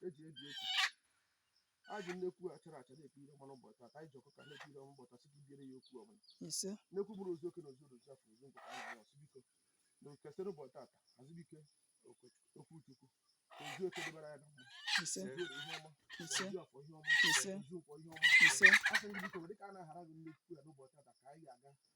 eji ebi okwu ajụ nnekwu achara acha na-ekwu ire ọma n'ụbọchị taa anyị ji ọkụkọ na-ekwu ire ụbọchị asị gị biere ya okwu ọbụla ise nnekwu bụrụ ozu eke na ozu ozu afọ ozu nkwọ anyị na-asị biko na kesịrị ụbọchị tata azụbike okwuchukwu ozu eke dịbara ya na mma ise ozu eke ihe ọma ise ozu afọ ihe ọma Ise. ozu nkwọ ihe ọma ise asị gị biko dịka a na-ahara gị nnekwu ya n'ụbọchị tata ka anyị ga-aga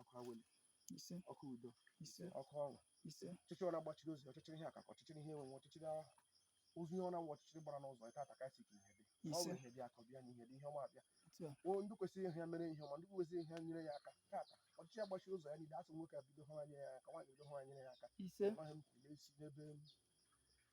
ọkụ awele ise ọkụ udo ise ọkụ ọṅụ ise ọchịchịrị ọ na-agbachiri ozi ọchịchịrị ihe akụakụ ọchịchịrị ihe enwenwe ọchịchịrị ozi ihe ọ na-awụ ọchịchịrị gbara n'ụzọ ịta ata kasị ka ihe dị ọ bụ ihe dị akụ bịa na ihe dị ihe ọma abịa o ndị kwesịrị ihe ya mere ihe ọma ndị kwesịrị ihe ya nyere ya aka tata ọchịchịrị gbachiri ụzọ ya niile asị nwoke abido ha nyere ya aka nwaanyị bido ha nyere ya aka ise ọhịa m kwuru n'esi n'ebe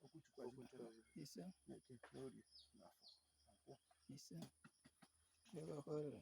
okwuchukwu ise n'eke n'orie na afọ nkwọ ise ebe ọkụ rere